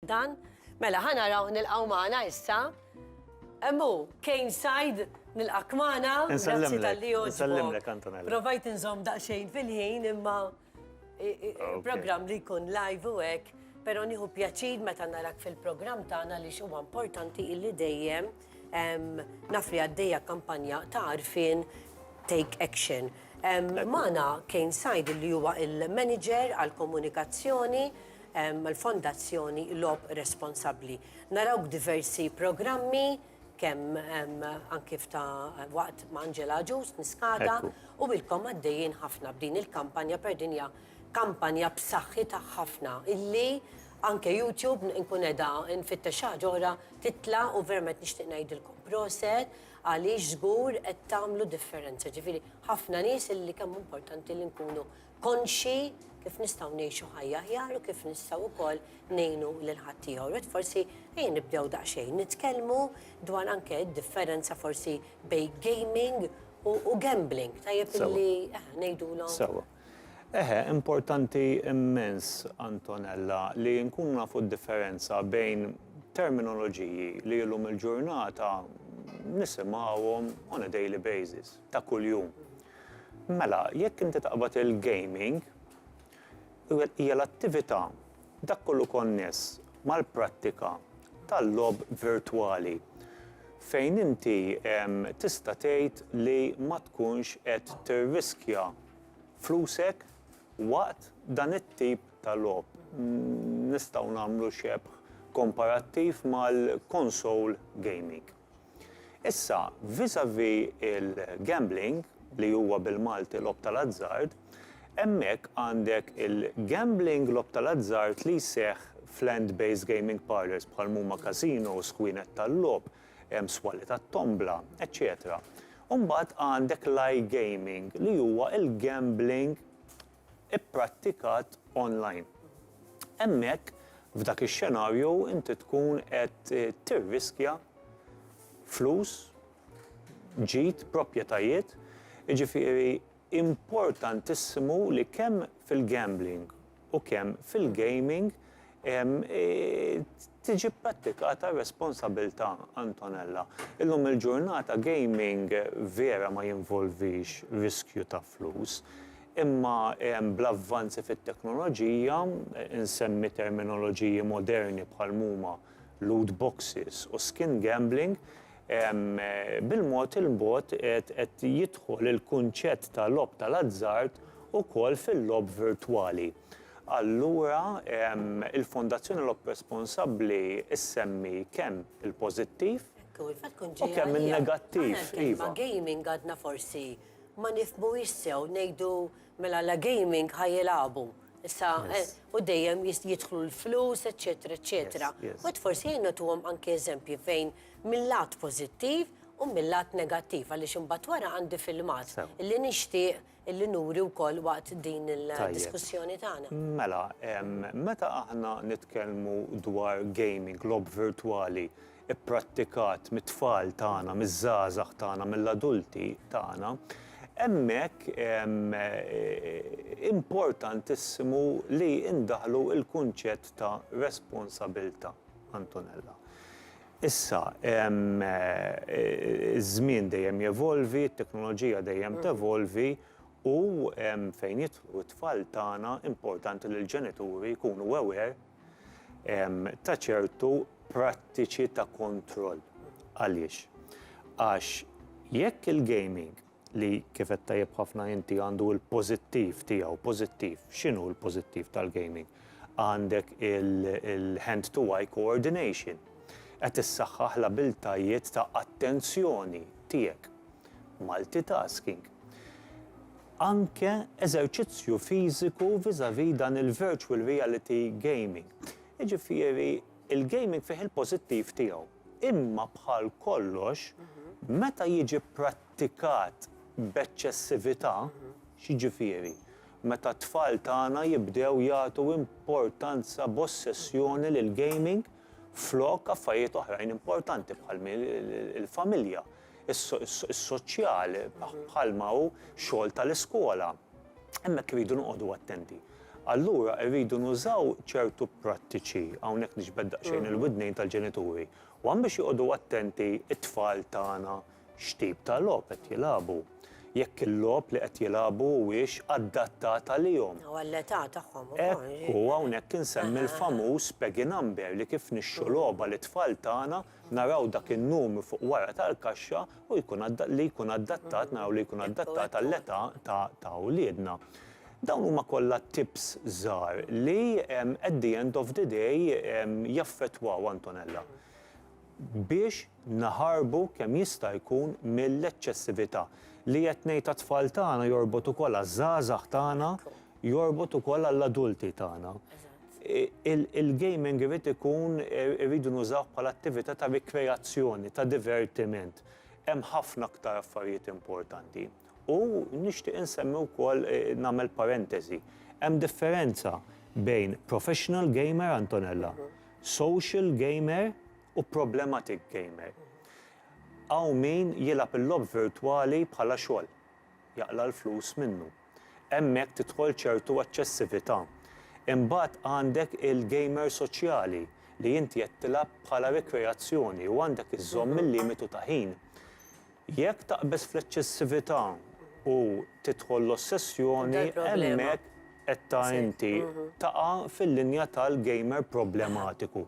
Dan? Mela, ħa naraw nilqgħu magħna issa. Hemm hu, Kane Said, nilqak magħna. Grazzi tal-li Insellimlek, Antonella. Provajt inżomm daqsxejn fil-ħin imma programm li jkun live u hekk, però nieħu pjaċir meta narak fil-programm tagħna li huwa importanti illi dejjem Naf li għaddejja kampanja ta' arfin Take Action. Mana Kane Sajd li huwa il-manager għal-komunikazzjoni l-Fondazzjoni Lob Responsabbli. Narawk diversi programmi kemm anki ta' waqt ma' Angela Ġus niskata u ilkom għaddejjin ħafna b'din il-kampanja per dinja Kampanja b'saħħitha ħafna illi anke YouTube inkun qiegħda nfittex xi ħaġa oħra titla' u verament nixtieq ngħidilkom proset għaliex żgur qed tagħmlu differenza. Ġifieri ħafna nies illi kemm hu importanti li nkunu konxji kif nistgħu ngħixu ħajja aħjar u kif nistgħu wkoll ngħinu lil ħaddieħor. Qed forsi ejja nibdew daqsxejn nitkellmu dwar anke d-differenza forsi bejn gaming u gambling. Tajjeb illi ngħidulhom. Eħe, importanti immens, Antonella, li nkunu nafu d-differenza bejn terminoloġiji li illum il-ġurnata nisimgħuhom on a daily basis, ta' kuljum. Mela, jekk inti taqbad il-gaming, hija l-attività, dak kollu konness mal-prattika tal-logħob virtwali fejn inti tista' tgħid li ma tkunx qed tirriskja. flusek waqt dan it-tip ta' logħob. Nistgħu nagħmlu xebh komparattiv mal-console gaming. Issa, vis-à-vis il-gambling, li huwa bil-Malti logħob tal-azzard, hemmhekk għandek il-gambling logħob tal-azzard li jseħħ f'land-based gaming parlours bħal m'huma casinos, kwienet tal-logħob, hemm swali tat-tombla, eċċetera U mbagħad għandek l-iGaming li huwa l-gambling ipprattikat online. Hemmhekk, f'dak ix-xenarju, inti tkun qed tirriskja flus, ġid, proprjetajiet, jiġifieri importantissimu li kemm fil-gambling, u kemm fil-gaming tiġi pprattikata r-responsabilità, Antonella. Illum il-ġurnata gaming vera ma jinvolvix riskju ta' flus, imma bl-avvanzi fit-teknoloġija, insemmi terminoloġiji moderni bħal m'huma loot boxes u skin gambling, Bil-mod il-mod qed jidħol il-kunċett ta' logħob tal-azzard ukoll fil-logħob virtwali. Allura, il-Fondazzjoni Logħob Responsabbli ssemmi kemm il-pożittiv u kemm in-negattiv. Aħna l-kelma gaming għadna forsi ma nifhmuhiex sew, ngħidu mela la gaming ħa jilagħbu. Issa, u dejjem jidħlu l-flus, eċċetera, eċċetera. Mbagħad forsi ejja nagħtuhom anke eżempji fejn mill-lat pożittiv u mill-lat negattiv għaliex imbagħad wara għandi filmat li nixtieq li nuri wkoll waqt din il-diskussjoni tagħna. Mela, meta aħna nitkellmu dwar gaming, logħob virtwali pprattikat mit-tfal tagħna, miż-żgħażagħ tagħna, mill-adulti tagħna, hemmhekk importantissimu li ndaħħlu l-kunċett ta' responsabilità. Antonella. Issa, iż-żmien dejjem jevolvi, t-teknoloġija dejjem tevolvi u fejn jidħlu t-tfal tagħna importanti li l-ġenituri jkunu aware ta' ċertu prattiċi ta' kontroll. Għaliex? Għax jekk il-gaming li kif għedt tajjeb ħafna inti għandu l-pożittiv tiegħu, pożittiv, x'inhu l-pożittiv tal-gaming? Għandek il-hand to eye coordination, qed issaħħaħ l-abiltajiet ta' attenzjoni tiegħek, multitasking, anke eżerċizzju fiżiku vis-à-vis dan il-virtual reality gaming. Jiġifieri l-gaming fih il-pożittiv tiegħu, imma bħal kollox meta jiġi prattikat b'eċċessività, x'jiġifieri? Meta t-tfal tagħna jibdew jagħtu importanza b'ossessjoni lill-gaming flok affarijiet oħrajn importanti bħal il-familja, is-soċjal, bħalma hu x-xogħol tal-iskola. Hemmhekk irridu noqogħdu attenti. Allura irridu nużaw ċertu prattiċi, hawnhekk niġbed daqsxejn il-widnejn tal-ġenituri, one biex joqogħdu attenti t-tfal tagħna, x'tip ta' logħob qed jilagħbu, jekk il-logħob li qed jilagħbu huwiex adattat għalihom. U għall-età tagħhom ukoll. Hekk hu, hawnhekk insemmi l-famuż Peggy Number li kif nixtru logħba lit-tfal tagħna naraw dak in-numru fuq wara tal-kaxxa u jkun li jkun adattat naraw li jkun adattat għall-età ta' wliedna. Dawn huma kollha tips żgħar li at the end of the day jaffettwaw Antonella. biex naħarbu kemm jista' jkun mill-eċċessività. Li qed ngħid għat-tfal tagħna jorbot ukoll għaż-żgħażagħ tagħna, jorbot ukoll għall-adulti tagħna. Il-gaming irid ikun, irridu nużawh bħala attività ta' rikreazzjoni, ta' divertiment. Hemm ħafna aktar affarijiet importanti. U nixtieq insemmi wkoll, nagħmel parentesi, hemm differenza bejn professional gamer, Antonella, social gamer u problematic gamer. Hawn min jilgħab il-logħob virtwali bħala xogħol, jaqla' l-flus minnu. Hemmhekk tidħol ċertu eċċessività. Imbagħad għandek il-gamer soċjali li inti qed tilgħab bħala rikreazzjoni u għandek iżżomm il-limitu ta' ħin. Jekk taqbeż fl-eċċessività u tidħol l-ossessjoni, hemmhekk qed ta' inti taqa' fil-linja tal-gamer problematiku,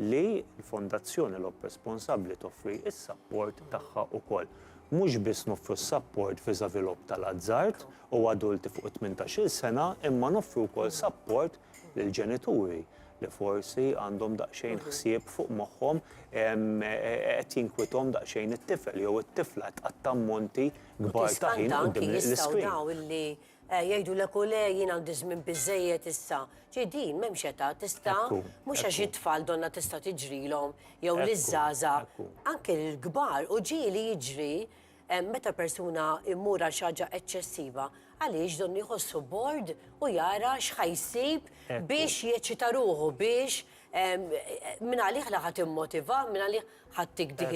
li l-Fondazzjoni Lob Responsabbli toffri s-sapport tagħha wkoll. Mhux biss noffru s-sapport viżavi logħob tal-azzard u adulti fuq it-tmintax-il sena imma noffru wkoll sapport lill-ġenituri li forsi għandhom daqsxejn ħsieb fuq moħħhom qed jinkwithom daqsxejn it-tifel jew it-tifla qed tqatta' ammonti kbar ta' ħin quddiem l-iskrin. Jgħidulek u le jien għandi żmien biżżejjed issa. Ġi din m'hemmx età tista' mhux għax it-tfal donnha tista' tiġrilhom jew liż-żgħażagħ anke lill-kbar u ġieli jiġri Meta persuna jmur għal xi ħaġa eċċessiva, għaliex donnu jħossu bored u jara x'ħa jsib biex jeċċita ruħu, biex minn għalih la ħa timmotiva, minn għalih ħa ttik dik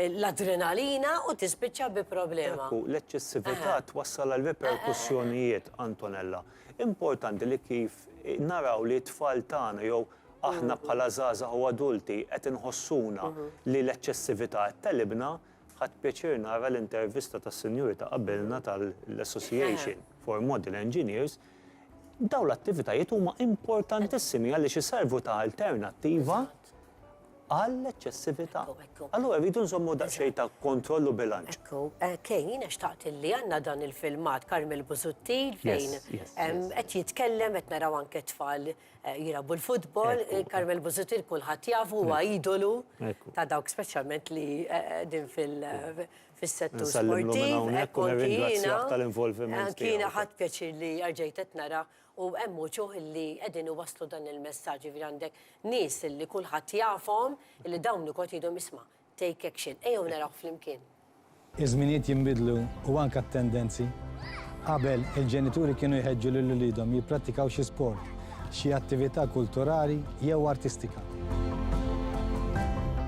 l-adrenalina u tispiċċa bi problema. Ekku, l-eċċessività twassal għal riperkussjonijiet, Antonella. Importanti li kif naraw li t-tfal tagħna jew aħna bħala żgħażagħ u adulti qed inħossuna li l-eċċessività qed tegħlibna, Ħadt pjaċir nara l-intervista tas-sinjuri ta' qabilna tal-Association for Model Engineers. Dawn l-attivitajiet huma importantissimi għaliex iservu ta' alternattiva għall-eċċessività. Allura rridu nżommu daqsxejn ta' kontroll u bilanċ. Ekku, Kay, jiena xtaqt li għandna dan il-filmat Carmel Busuttil fejn qed jitkellem qed naraw anke t-tfal jilagħbu l-futbol, Carmel Busuttil kulħadd jafu huwa idolu ta' dawk speċjalment li din fis-settur sportiv. Ekku jiena tal-involviment. Jiena ħadd pjaċir li erġajt qed nara u hemm uċuħ li qegħdin iwasslu dan il-messaġġ, jiġifieri għandek nies li kulħadd jafhom li dawn ukoll jgħidhom isma', Take action. Ejjew narawh flimkien. Iż-żminijiet jinbidlu u anke t-tendenzi. Qabel, il-ġenituri kienu jħeġġu lil uliedhom jipprattikaw xi sport, xi attività kulturali jew artistika.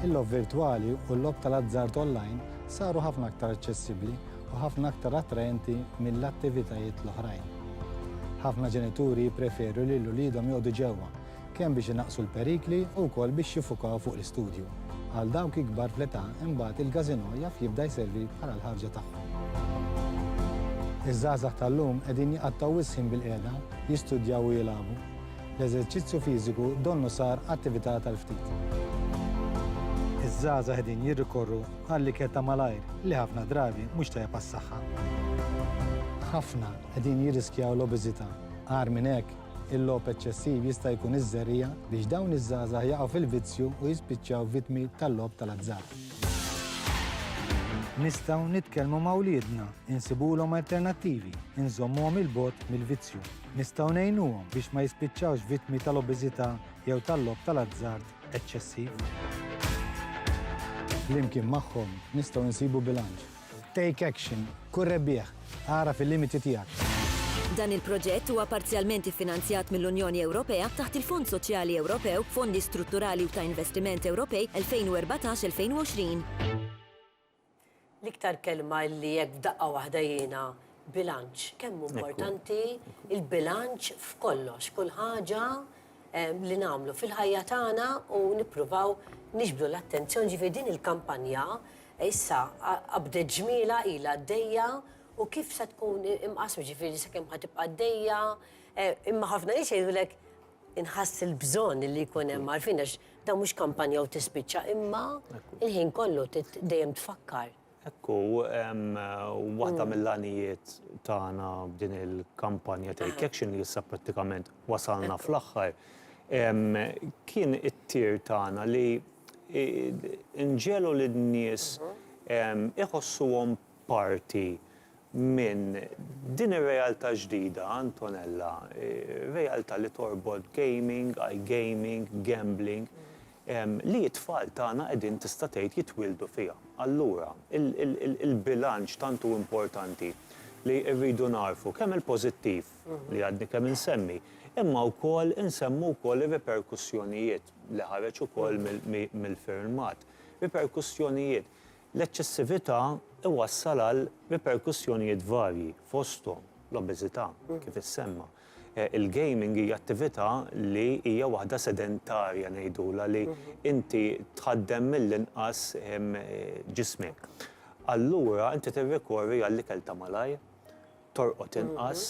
Il-logħob virtwali u l-logħob tal-azzard online saru ħafna aktar aċċessibbli u ħafna aktar attraenti mill-attivitajiet l-oħrajn. Ħafna ġenituri jippreferu lil uliedhom joqogħdu ġewwa kemm biex inaqqsu l-perikli u wkoll biex jiffukaw fuq l-istudju. Għal dawk ikbar fl-età imbagħad il-każinò jaf jibda jservi bħala l-ħarġa tagħhom. Iż-żgħażagħ tal-lum qegħdin jqattgħu wisq ħin bilqiegħda, jistudjaw u jilagħbu. L-eżerċizzju fiżiku donnu sar attività tal-ftit. Iż-żgħażagħ qegħdin jirrikorru għall-ikel ta' malajr li ħafna drabi mhux tajjeb għas-saħħa. Ħafna qegħdin jirriskjaw l-obeżità. Agħar minn hekk, Il-logħob eċċessiv jista' jkun iż-żerriegħa biex dawn iż-żgħażagħ jaqgħu fil-vizzju u jispiċċaw vittmi tal-logħob tal-azzard. Nistgħu nitkellmu ma' wliedna, insibulhom alternattivi, inżommuhom 'il bogħod mill-vizzju. Nistgħu ngħinuhom biex ma jispiċċawx vittmi tal-obeżità jew tal-logħob tal-azzard eċċessiv. Flimkien magħhom nistgħu nsibu bilanċ Take action. Kun rebbieħ. Agħraf il-limiti tiegħek. Dan il-proġett huwa parzjalment iffinanzjat mill-Unjoni Ewropea taħt il-Fond Soċjali Ewropew, Fondi Strutturali u ta' Investiment Ewropej 2014-2020. L-iktar kelma li hekk f'daqqa waħda jiena Bilanċ, kemm hu importanti l-bilanċ f'kollox, kull ħaġa li nagħmlu fil-ħajja tagħna u nippruvaw niġbdu l-attenzjoni, ġifieri din il-kampanja issa qabdet ġmielha ilha għaddejja u kif se tkun imqassma, ġifieri sakemm ħa tibqa' għaddejja, imma ħafna nies jgħidulek inħass il-bżonn li jkun hemm għarfien għax dan mhux kampanja u tispiċċa, imma l-ħin kollu dejjem tfakkar. Hekk hu, waħda mill-għanijiet tagħna b'din il-kampanja Take Action li issa prattikament wasalna fl-aħħar, kien it-tir tagħna li nġegħlu lin-nies iħossuhom parti minn din ir-realtà ġdida, Antonella, realtà li torbot gaming, iGaming, gambling, li t-tfal tagħna qegħdin tista' tgħid jitwieldu fiha. Allura, il-bilanċ tant hu importanti li rridu nagħrfu kemm il-pożittiv li għadni kemm insemmi, imma wkoll insemmu wkoll ir-riperkussjonijiet li ħareġ ukoll mill-firmat. Riperkussjonijiet. L-eċċessività iwassal għal riperkussjonijiet varji, fosthom l-obeżità, kif issemma. Il-gaming hija attività li hija waħda sedentarja ngħidulha li inti tħaddem mill-inqas ġismek. Allura inti tirrikorri għall-ikel ta' malajr, torqod inqas,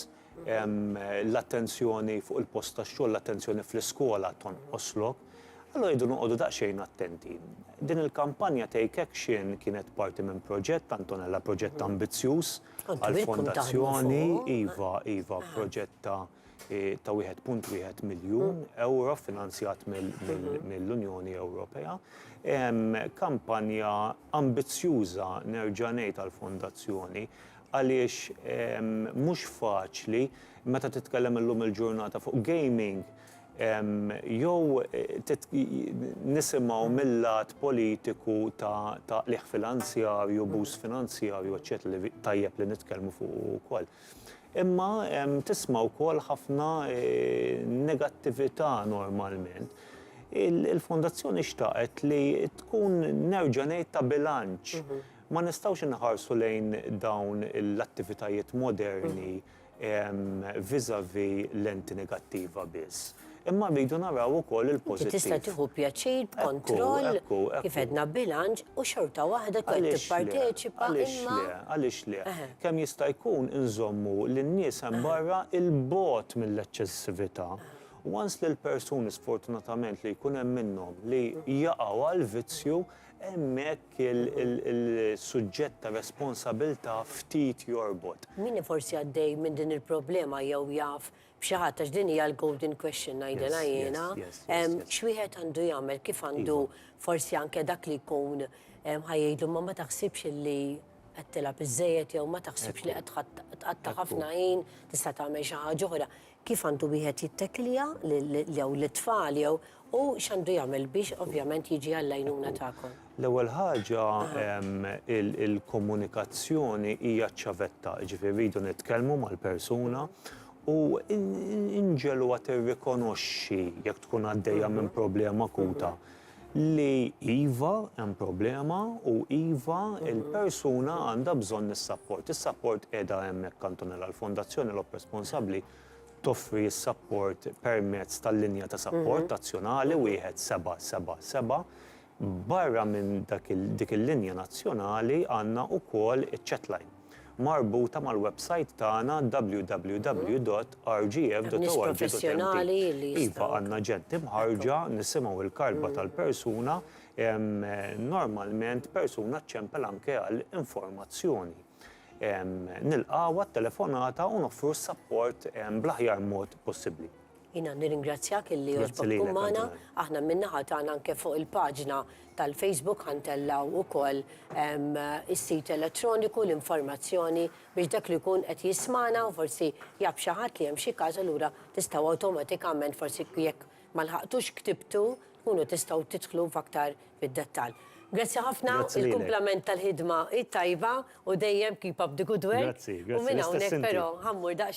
l-attenzjoni fuq il-post tax-xogħol, l-attenzjoni fl-iskola tonqoslok. Allura rridu noqogħdu daqsxejn attenti. Din il-kampanja Take Action kienet parti minn proġett, Antonella, proġett ambizzjuż, għall-Fondazzjoni, iva, iva, proġett ta' ta' 1.1 miljun ewro finanzjat mill-Unjoni Ewropea. Kampanja ambizzjuża nerġa' ngħid għall-Fondazzjoni għaliex mhux faċli meta titkellem illum il-ġurnata fuq gaming, Jew nisimgħu mil-lat politiku ta' qligħ finanzjarju, abbuż finanzjarju, eċċetera li tajjeb li nitkellmu fuqu wkoll. Imma tisma' wkoll ħafna negattività normalment. Il-Fondazzjoni xtaqet li tkun nerġa' ngħid ta' bilanċ. Ma nistgħux inħarsu lejn dawn l-attivitajiet moderni vis-à-vis lenti negattiva biss, imma rridu naraw ukoll il-pożittiv. Inti tista' tieħu pjaċir b'kontroll, kif għedna bilanċ, u xorta waħda tkun tipparteċipa imma. Għaliex le? Kemm jista' jkun inżommu lin-nies hemm barra 'il bogħod mill-eċċessività. Once li l-persuni sfortunatament li jkun hemm minnhom li jaqgħu għall-vizzju, Hemmhekk il-suġġett tar-responsabilità ftit jorbot. Min hu forsi għaddej minn din il-problema jew jaf b'xi ħadd, għax din hija l-golden question ngħidilha jiena, x'wieħed għandu jagħmel, kif għandu forsi anke dak li jkun ħa jgħidlu imma ma taħsibx illi qed tilgħab iżżejjed jew ma taħsibx li qed tqatta' ħafna ħin, tista' tagħmel xi ħaġa oħra. kif għandu wieħed jittekklja jew lit-tfal jew u x'għandu jagħmel biex ovvjament jiġi għall-għajnuna tagħkom? L-ewwel ħaġa il-komunikazzjoni hija ċ-ċavetta, jiġifieri rridu nitkellmu mal-persuna u nġegħluha tirrikonoxxi jekk tkun għaddejja minn problema akuta. li iva, hemm problema u iva, il-persuna għandha bżonn is-sapport. Is-sapport qiegħda hemmhekk, Antonella. Il-Fondazzjoni Lop Responsabbli toffri s-sapport permezz tal-linja ta' sapport nazzjonali wieħed seba' seba' seba'. Barra minn dik il-linja nazzjonali għandna wkoll iċ-chatline. marbuta mal-websajt tagħna www.rgf.org.mt. Iva, għandna ġent imħarrġa, nisimgħu l-karba tal-persuna, normalment persuna ċċempel anke għal informazzjoni. Nilqgħu għat-telefonata u noffru s-sapport bl-aħjar mod possibbli. Jiena nirringrazzjak illi għoġbok tkun magħna. Aħna min-naħa tagħna anke fuq il-paġna tal-Facebook ħa ntellgħu wkoll is-sit elettroniku, l-informazzjoni biex dak li jkun qed jismagħna u forsi jaf xi ħadd li hemm xi każ allura tistgħu awtomatikament forsi jekk ma lħaqtux ktibtu tkunu tistgħu tidħlu f'aktar fid-dettall. Grazzi ħafna, il-kumplament tal-ħidma hi tajba u dejjem keep up the good work. Grazzi, grazzi. U minn hawnhekk però ħa mmur daqsxejn.